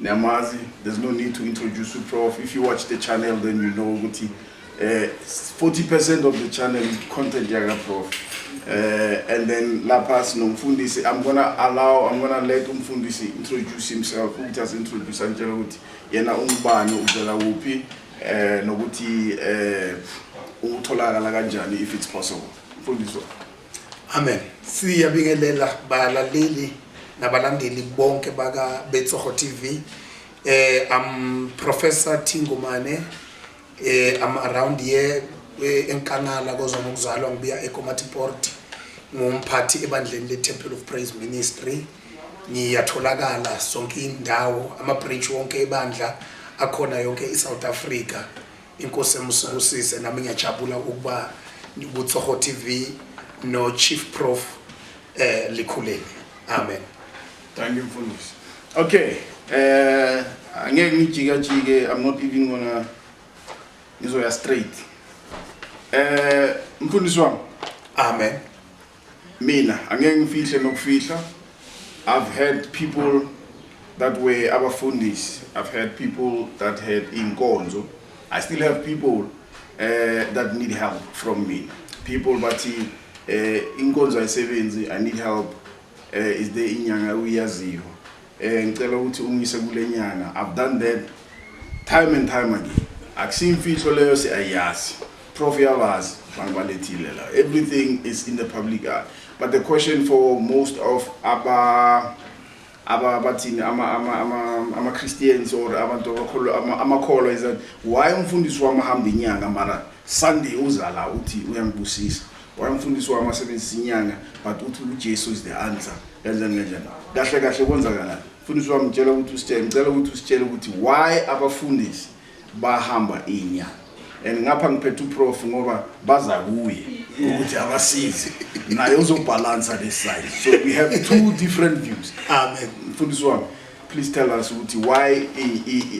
Niyamazi, there's no need to introduce you prof. If you watch the channel then you know ukuthi eh 40% of the channel is content yaka prof. Eh and then lapha sinomfundisi I'm gonna allow I'm gonna let umfundisi introduce himself ukuthi as introduce antshela ukuthi yena ungubani uvela kuphi eh nokuthi eh utholakala kanjani if it's possible. Mfundisi Amen. Siyabingelela balaleli nabalandeli bonke baka Betsogo TV. Eh I'm Professor Thingumane. Eh I'm around here eh, eNkanala kozwa ngokuzalwa ngibuya eKomatiport. Ngumphathi ebandleni le Temple of Praise Ministry. Ngiyatholakala sonke indawo ama branch wonke ebandla akhona yonke iSouth Africa. Inkosi emusibusise nami ngiyajabula ukuba kuTsoho TV no Chief Prof eh likhuleni. Amen. Thank you mfundisi. Okay. Eh angeke ngijika jike I'm not even gonna ngizoya straight. Eh mfundisi wami. Amen. Mina angeke ngifihle nokufihla I've had people that were abafundisi I've had people that had inkonzo I still have people uh, that need help from me people bathi uh, inkonzo ayisebenzi I need help uh, is there inyanga uyaziyo Eh ngicela ukuthi ungise kulenyanga. I've done that time and time again. Akusiyimfihlo leyo siyayazi. Prof yabazi abantu balethile la. Everything is in the public eye. But the question for most of aba aba bathini ama ama ama ama Christians or abantu abakholwa ama- amakholwa is that why umfundisi wami ahamba inyanga mara Sunday uzala uthi uyangibusisa Why mfundisi wami asebenzisa inyanga but uthi uJesu is the answer. Kanjani kanjani? Kahle kahle kwenzakalani? Mfundisi wami ngitshela ukuthi usitshele, ngicela ukuthi usitshele ukuthi why abafundisi bahamba inyanga. And ngapha ngiphethe uprof ngoba baza kuye ukuthi abasize. Naye uzobalansa this side. So we have two different views. Amen. Mfundisi wami please tell us ukuthi why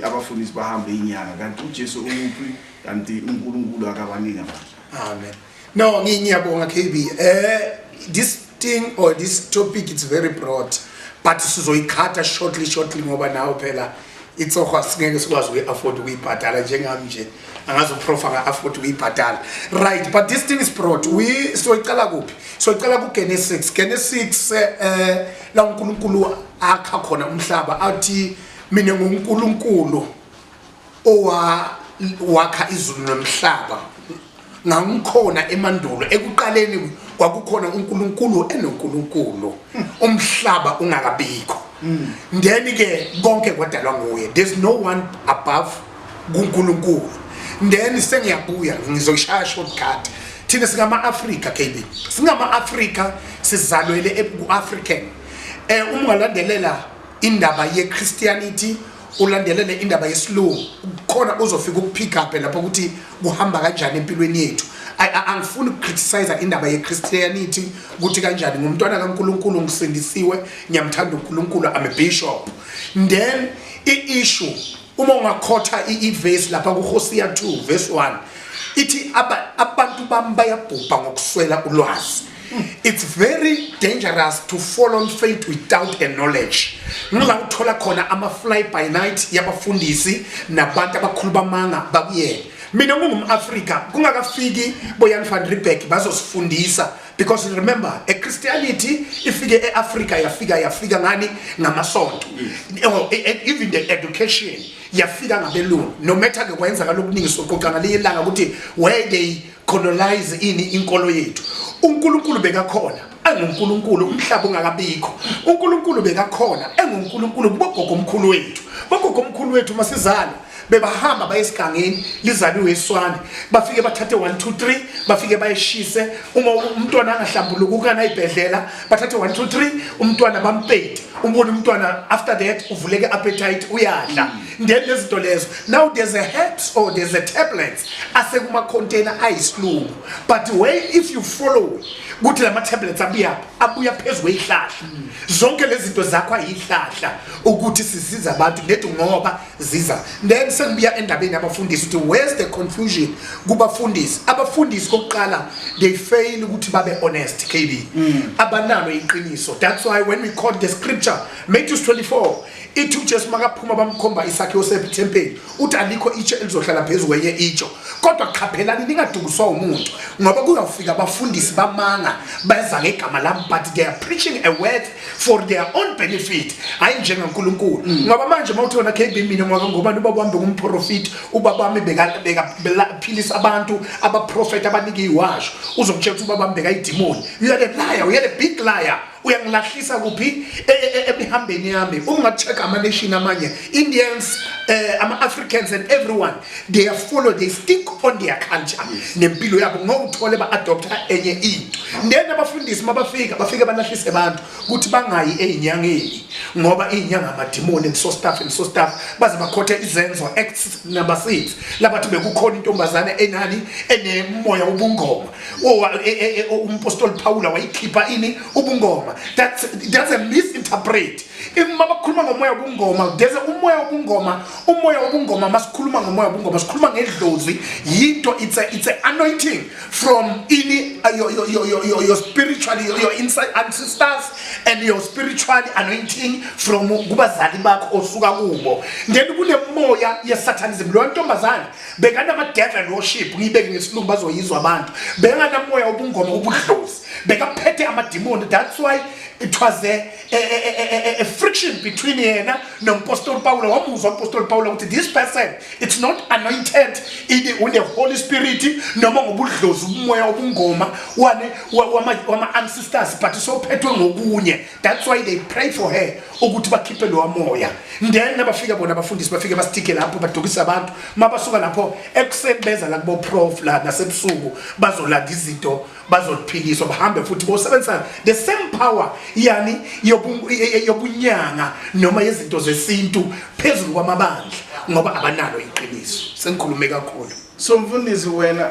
abafundisi bahamba inyanga kanti uJesu umuphi kanti uNkulunkulu akabaningi abantu. Amen. No, ngiyabonga KB. Eh this thing or this topic it's very broad but sizoyikhatha shortly shortly ngoba nawo phela itsohwa singeke sikwazi ukuyi-afford ukuyibhadala njengami nje angazi uprofa nga-afford ukuyibhadala right but this thing is brought we soyicala kuphi soyicala kugenesis genesis um la unkulunkulu akha khona umhlaba athi mina ngunkulunkulu owawakha izulu nomhlaba ngangikhona emandulo ekuqaleni kwakukhona uNkulunkulu enoNkulunkulu umhlaba ungakabikho then ke konke kwadalwa nguye there's no one above kuNkulunkulu then sengiyabuya ngizoshaya shortcut thina singama-afrika kb singama-afrika sizalwele ku-african um eh, uma ungalandelela indaba ye-christianity ulandelele indaba yesilungu khona uzofika ukuphikaphe lapho ukuthi kuhamba kanjani empilweni yethu angifuni ukucriticize indaba yechristianity ukuthi kanjani ngumntwana kankulunkulu ngisindisiwe ngiyamthanda unkulunkulu am a bishop then i-issue uma ungakhotha ivesi lapha kuhosiya 2 vesi 1 ithi abantu bami bayabhubha ngokuswela ulwazi it's very dangerous to fall on faith without a knowledge ngila uthola khona ama fly by night yabafundisi nabantu abakhulu bamanga bakuyena mina ngingumAfrika kungakafiki boyan van Riebeck bazosifundisa because remember a christianity ifike eAfrika yafika yafika ngani ngamasonto oh, e, e, even the education yafika ngabelungu no matter ke kwenza kalokuningi soqoqana liyelanga ukuthi where they colonize ini inkolo yethu uNkulunkulu bekakhona enguNkulunkulu umhlaba ungakabikho uNkulunkulu bekakhona enguNkulunkulu kubogogo omkhulu wethu bogogo omkhulu wethu masizalo bebahamba bayesigangeni lizaliwe iswane bafike bathathe 1 2 3 bafike bayeshise uma umntwana angahlambuluka ukana ibhedlela bathathe 1 2 3 umntwana bampete ubona umntwana after that uvuleke appetite uyadla then lezinto lezo now there's a herbs or there's a tablet asekumakhontena ayisilungu but way if you follow ukuthi lama tablets abuya abuya phezulu ezihlahla zonke lezi zinto zakho ayihlahla ukuthi sisiza abantu nethi ngoba ziza then sengibuya endabeni abafundisi ukuthi where's the confusion kubafundisi abafundisi kokuqala they fail ukuthi babe honest KB mm. abanalo iqiniso that's why when we quote the scripture Matthew 24 ithi uJesu makaphuma bamkhomba isakhe osephi thempeli uthi alikho itshe elizohlala phezu kwenye itsho kodwa qhaphelani ningadukiswa umuntu ngoba kuyawufika abafundisi bamanga beza ngegama lami but they are preaching a word for their own benefit hayi njengankulunkulu mm. ngoba manje uma uthona kb mina ngoba ngobani uba kuhambe kumprofiti uba bami bekaphilisa abantu abaprofethi abanike iwasho uzokutshela ukuthi uba bami bekayidimoni you are a liar you are a big liar uyangilahlisa kuphi e, e, e, emihambeni yami unga-check ama-nation amanye indians uh, ama-africans and everyone they are follow they stick on their culture yes. nempilo yabo ngowuthole ba-adoptha enye into then abafundisi mabafika bafike balahlise abantu ukuthi bangayi ey'nyangeni ngoba iy'nyanga amadimoni and so staff and so staff baze bakhothe izenzo acts number six labathi bekukhona intombazane enani enemoya wobungoma E, e, e, umpostoli phawula wayikhipha ini ubungoma that's, that's a misinterpret uma bakhuluma ngomoya wobungoma there's umoya wobungoma umoya wobungoma masikhuluma ngomoya wobungoma sikhuluma ngedlozi yinto it's a, it's a anointing from ini uh, your, your, your, your, your spiritual your, your inside ancestors and your spiritual anointing from kubazali bakho osuka kubo then kunemoya yesatanism leyo ntombazane bekanama devil worship ngiyibeke ngesilungu bazoyizwa abantu bekanamoya obungoma obudlozi bekaphethe amadimoni that's why it was a, a, a, a, a friction between yena nompostoli pawula wamuzwa umpostoli pawula ukuthi this person it's not anointed une holy spirit noma ngobudlozi umoya obungoma wama-ancestors but sophethwe ngokunye that's why they pray for her ukuthi bakhiphe lowa moya then nabafika bona abafundisi bafike basitike lapho badukisa abantu mabasuka lapho ekuseni beza la kubo prof la nasebusuku bazolanda izinto bazophikiswa bahambe futhi bosebenzisana the same power yani yobunyanga noma yezinto zesintu phezulu kwamabandla ngoba abanalo iqiniso sengikhulume kakhulu so mfundisi wena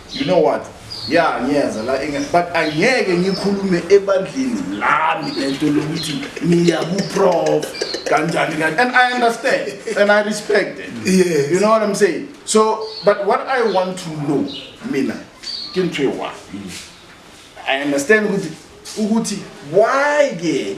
you know what ya ngiyenza la but angeke ngikhulume ebandleni lami lento lokuthi niya kuprof kanjani kanjani and i understand and i respect it yes. you know what i'm saying so but what i want to know mina ke ntho ewa i understand ukuthi ukuthi why ke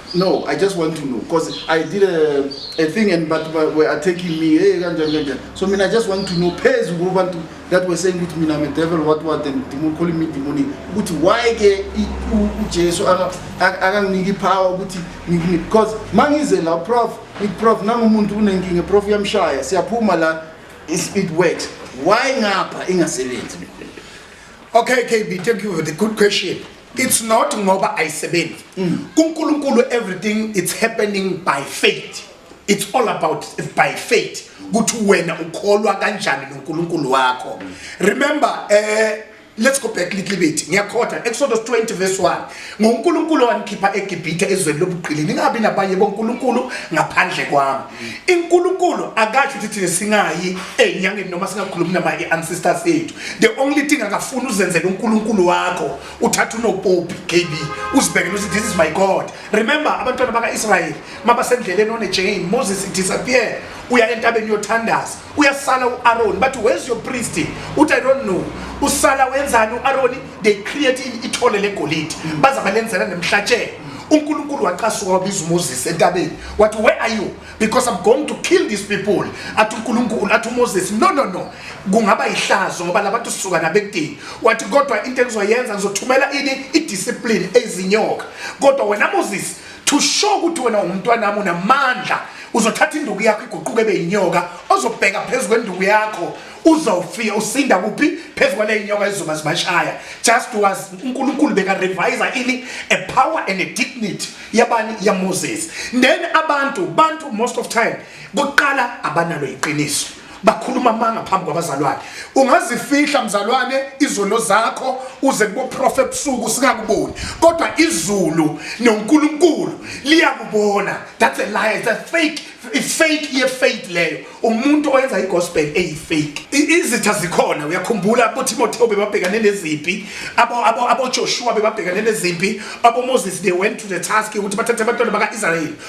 No, I just want to know because I did a, a thing and but were attacking me. Hey, kanjani kanjani. So mina I just want to know phezu kubantu that were saying ukuthi mina I'm a devil what what and demon calling me demonic. Ukuthi why ke uJesu akanginiki power ukuthi ngikini because mangize la prof it prof nangumuntu unenkinga prof yamshaya siyaphuma la it works. Why ngapha ingasebenzi? Okay, KB, thank you for the good question. it's not ngoba ayisebenzi mm. kuNkulunkulu everything it's happening by faith it's all about by faith ukuthi wena ukholwa kanjani noNkulunkulu wakho mm. remember eh let's go back little bit ngiyakhotha exodus 20 verse 1 ngonkulunkulu wanikhipha egibhithe ezweni lobuqili ningabi nabanye bonkulunkulu ngaphandle kwami inkulunkulu akasho ukuthi thina singayi enyangeni noma singakhulumi nama i-ancestors ethu the only thing akafuni uzenzele unkulunkulu wakho uthatha unopopi kb uzibhekele ukuthi this is my god remember abantwana baka-israyeli mabasendleleni onejane moses disappear uya entabeni yothandaza uyasala u-aroni bathi where's your priest uthi i don't know usala wenzani u-aroni they create ithole legolide baza balenzela nemhlatshelo unkulunkulu wacasuka wabiza umoses entabeni wathi where are you because i'm going to kill these people athi unkulunkulu athi umoses no no no kungaba yihlazo ngoba labantu sisuka nabekudini wathi kodwa into engizoyenza ngizothumela ini idiscipline ezinyoka kodwa wena moses to show ukuthi wena ungumntwanami unamandla uzothatha induku yakho iguquke ebe yinyoka ozobheka phezu kwenduku yakho uzofika usinda kuphi phezu kwaleyinyoka ezizoba zibashaya just was unkulunkulu bekarevisa ini a power and a dignity yabani yamoses then abantu bantu most of time kuqala abanalo iqiniso bakhuluma amanga phambi kwabazalwane ungazifihla mzalwane izono zakho uze kuboprofa ebusuku singakuboni kodwa izulu nonkulunkulu liyakubona that's a lie it's a fake ifake yefake leyo umuntu oyenza igospel eyifake izitha zikhona uyakhumbula boTimotheo bebabhekane nezimpi abo abo aboJoshua bebabhekane nezimpi aboMoses they went to the task ukuthi bathathe abantwana bakaIsrael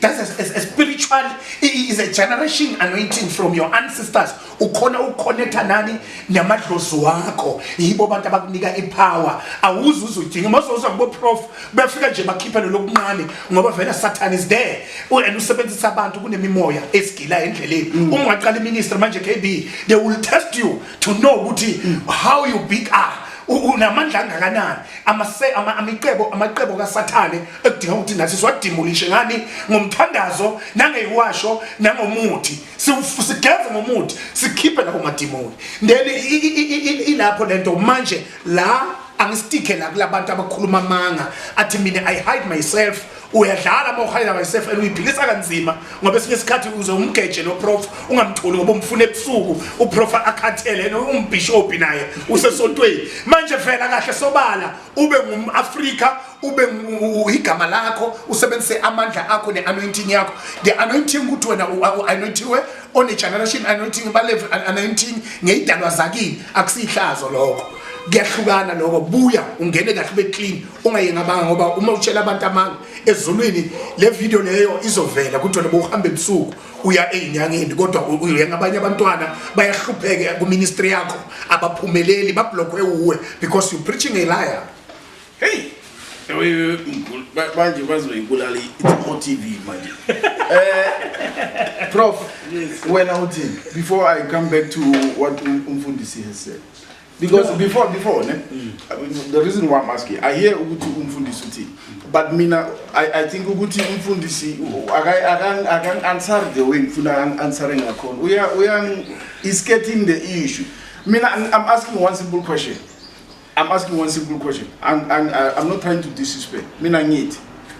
That's a, a, a spiritual is a generation anointing from your ancestors. Ukhona uconnecta nani namadlozi wakho. Yibo abantu abakunika ipower. Awuzi uzudinga mazoza kubo prof befika nje bakhipha lo lokuncane ngoba vele Satan is there. And usebenzisa abantu kunemimoya esigila endleleni. Mm. Uma ungaqala iministry manje KB they will test you to know ukuthi how you big are unamandla angakanani amase ama amicebo amacebo kaSathane ekudinga ukuthi nathi siwadimulishe ngani ngomthandazo nangeyiwasho nangomuthi sigeze ngomuthi sikhiphe lapho madimoni then ilapho lento manje la angisitike la kulabantu abakhuluma amanga athi mina i hide myself uyadlala uma uhalela myself and uyiphilisa kanzima ngoba esinye isikhathi uze umgeje lo prof ungamtholi ngoba umfuna ebusuku uprof akhathele and umbishophi naye usesontweni manje vela kahle sobala ube ngumAfrika ube igama lakho usebenzise amandla akho neanointing yakho the anointing ukuthi wena uanointiwe on a generation anointing balevu anointing ngeyidalwa zakini akusihlazo lokho kuyahlukana lokho buya ungene kahle ube clean ungayengamanga ngoba uma utshela abantu amanga ezulwini le video leyo izovela kuthiwa noba uhamba ebusuku uya ey'nyangeni kodwa uyenga abanye abantwana bayahlupheke kuministry yakho abaphumeleli bablokhwe uwe because you preaching a liar hey manje bazoyibulala i-o t v manje um prof wena uthini before i come back to what umfundisi has said because before before ne mm. the reason why i'm asking i hear ukuthi umfundisi uthi but mina i i think ukuthi umfundisi akan answer the way ngifuna answer ngakhona uya uya is getting the issue mina i'm asking one simple question i'm asking one simple question i'm i'm, I'm not trying to disrespect mina ngithi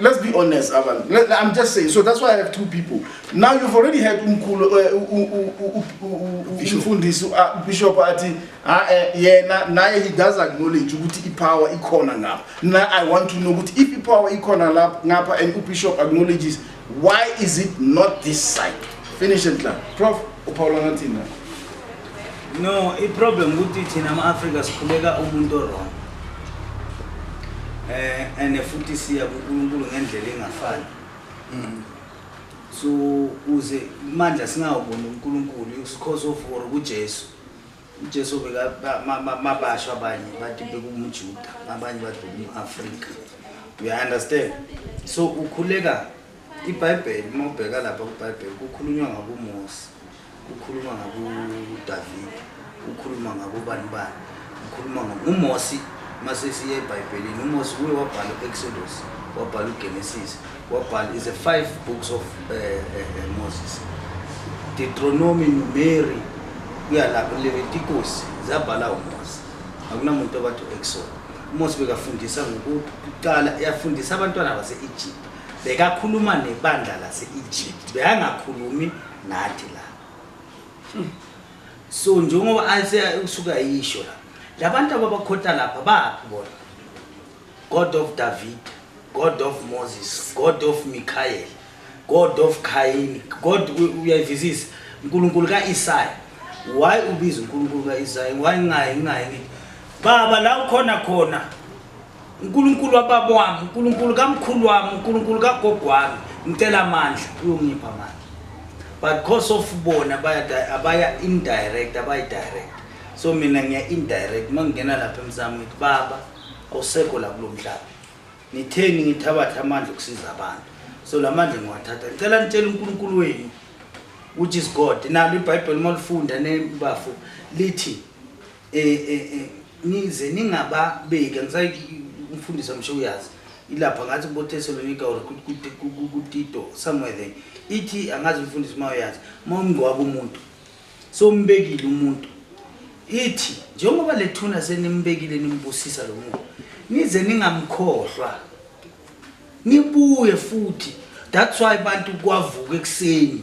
let's be honest abantu i'm just saying so that's why i have two people now you've already had umkhulu umfundisi ubishop athi yena naye he does acknowledge ukuthi ipower ikhona ngapha na i want to know ukuthi if ipower ikhona lapha ngapha and ubishop acknowledges why is it not this side finish it la prof uphawula ngathini la No, iproblem ukuthi thina ama-Afrika sikhuleka umuntu orong eh and futhi siya kuNkulunkulu ngendlela engafani mm. so uze imandla singawuboni uNkulunkulu usikhoso for kuJesu uJesu beka mabasho abanye bathi bekumujuda abanye bathi umAfrika you understand so ukhuleka IBhayibheli uma ubheka lapha kwiBhayibheli kukhulunywa ngakuMose, kukhuluma ngakuDavid, kukhuluma ngakubani bani, kukhuluma nguMose mase siye eBhayibhelini uMose uye wabhala u-Exodus, wabhala uGenesis, wabhala is a five books of uh, uh, Moses. Deuteronomy, Numeri, kuya lapho Leviticus zabhala uMose. Akunamuntu obathi u-Exodus. uMose bekafundisa ngokuqala yafundisa abantwana base-Egypt bekakhuluma nebandla lase-egypt bekangakhulumi nathi la so njengoba usuke ayisho la labantu ababakhota lapha baphi bona god of david god of moses god of mikhael god of kayini god uyayivizisa unkulunkulu ka-isaya why ubiza unkulunkulu ka-isaya why ngayi ngayi baba la ukhona khona unkulunkulu wababa wami unkulunkulu kamkhulu wami unkulunkulu kagogo wami ngicela amandla uyongipha amandla but because of bona abaya indirect abayidirect so mina ngiya indirect uma ngingena lapha emsamo ngithi baba awusekho la kulo mhlaba nitheni ngithabathe amandla okusiza abantu so la mandla ngiwathatha ngicela nitshela unkulunkulu wenu which is god nalo ibhayibheli uma lifunda nebafo lithi eh eh eh nize ningababeki angisayi umfundisi amsho uyazi ilapha ngathi kubothesalonika or kutito somewhere then ithi angazi umfundisi uma uyazi uma umngcwaba umuntu so umbekile umuntu ithi njengoba le thuna senimbekile nimbusisa lo muntu nize ningamkhohlwa ngibuye futhi that's why abantu kwavuka ekuseni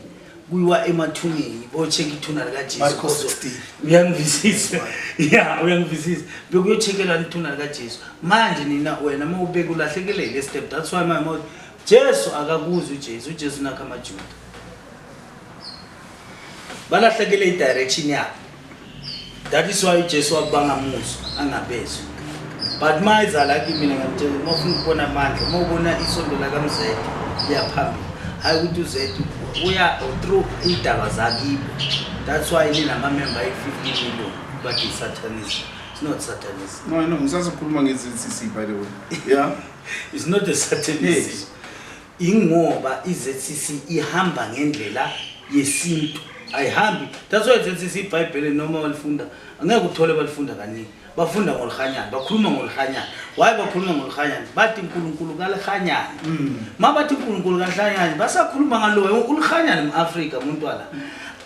kuyiwa emathuneni bocheka ithuna likajesuuyangivisisa ya uyangivisisa bekuyochekelwa ithuna likajesu manje nina wena ma ubeke ulahlekelele estep that's why my mouth jesu akakuzi ujesu ujesu nakho amajuda balahlekele i-direction yabo that is why ujesu wabo bangamuzwa angabezwa but uma ezala kimina ngamtshela uma ufuna ukubona amandla uma ubona isondo lakamzede liyaphambili hhayi ukuthi uzethu uya through iy'daba zakibo that's why linamamemba ayi-fifty million but i-satanism it's not satanism no i know ngisazokhuluma nge-zcc by the way yeah it's not a satanism hey. Ingoba iZCC ihamba ngendlela yesintu ayihambi that's why iZCC iBhayibheli noma walifunda angeke uthole balifunda kaningi bafunda ngolihanyana bakhuluma ngolihanyana why bakhuluma ngolihanyana bathi uNkulunkulu kalihanyana mm. mabathi uNkulunkulu kalihanyana basakhuluma ngaloyo ulihanyana eAfrika umuntu wala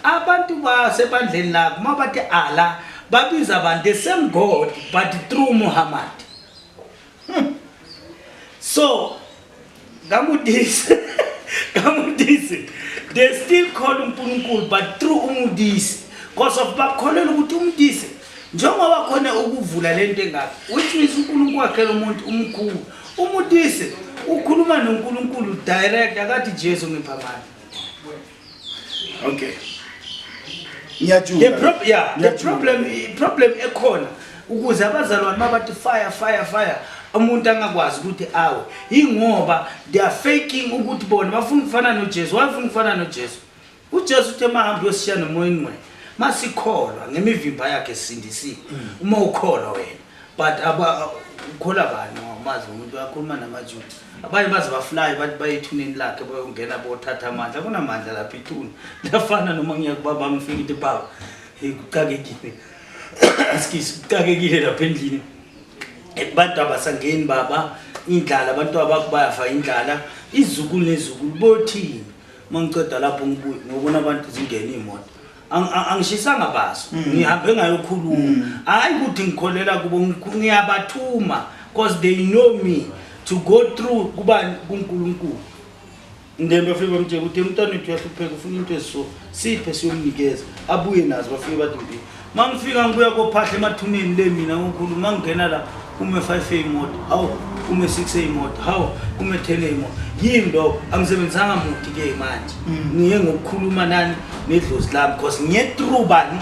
abantu basebandleni lakho mabathi ala babiza abantu the same god but through Muhammad so ngamudisi ngamudisi they still call unkulunkulu but through umudisi because of bakholelwa ukuthi umudisi njengoba khona ukuvula le nto engaka which means unkulunkulu wakhela umuntu umkhulu umudisi ukhuluma nonkulunkulu direct akathi jesu ngiphamani okay ngiyajula the problem yeah the problem problem ekhona ukuze abazalwane mabathi fire fire fire umuntu angakwazi ukuthi awe ingoba they are faking ukuthi bona bafuna ukufana noJesu wafuna ukufana noJesu uJesu uthe mahambe yosishiya nomoya ingcwele masikholwa ngemivimba yakhe sindisiwe mm. uma ukholwa wena but ukholwa bani awumazi umuntu wakhuluma namajuda abanye baze bafulayo bathi bayethuneni lakhe bayongena bothatha amandla kunamandla lapha ithuna liyafana noma ngiyakubaba ngifika into baba kucakekile askisi kucakekile lapha endlini abantu abasangeni baba indlala abantu abakubayafa indlala izukulu nezukulu bothini uma ngiceda lapho ngibuye ngobona abantu zingena iy'moto angishisanga baso mm. ngihambe ngayokhuluma mm. hayi ukuthi ngikholela kubo ngiyabathuma because they know me to go through kubani kunkulunkulu ngene bafike bamtshela ukuthi umntwana wethu uyahlupheka ufuna into eziso siphe siyomnikeza abuye nazo bafike bathi mbi uma ngifika ngibuya kophahla emathuneni le mina ngikhuluma ngingena la kume 5 eyimoto hawu kume 6 eyimoto hawu kume 10 eyimoto yini lo angisebenzanga muthi ke manje mm. ngiye ngokukhuluma nani nedlozi lami because ngiye through bani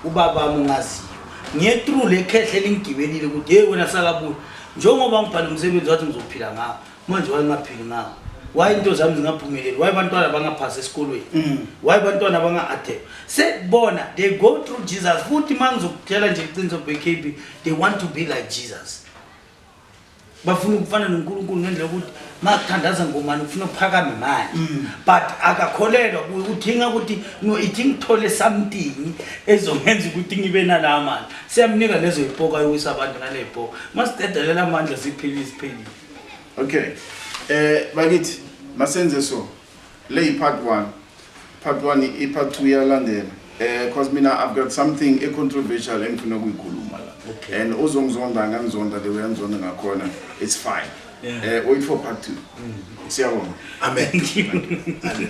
ubaba wami ungaziyo ngiye through le khehle lingigibelile ukuthi hey wena sakabuya njengoba ngibhala umsebenzi wathi ngizophila ngawo manje wayengaphili ngawo waye into zami zingaphumeleli waye bantwana bangaphasi esikolweni mm. waye bantwana banga-adep sekubona they go through jesus futhi uma ngizokutshela nje iqiniso bkb they want to be like jesus bafuna ukufana nonkulunkulu ngendlela yokuthi makuthandaza ngomani ufuna uphakame manje mm. but akakholelwa kuye uthinga ukuthi no ithi ngithole something ezongenza ukuthi ngibe nala mali siyamnika lezo yipoka yokuwisa abantu naleypoka masidedelela amandla siphilile siphelile okay eh bakithi masenze so le yi part 1 part 1 i part 2 yalandela eh cause mina i've got something a controversial engifuna ukuyikhuluma la okay. and uzongizonda angangizonda the way angizonda ngakhona it's fine yeah. eh wait for part 2 mm. siyabonga amen hallelujah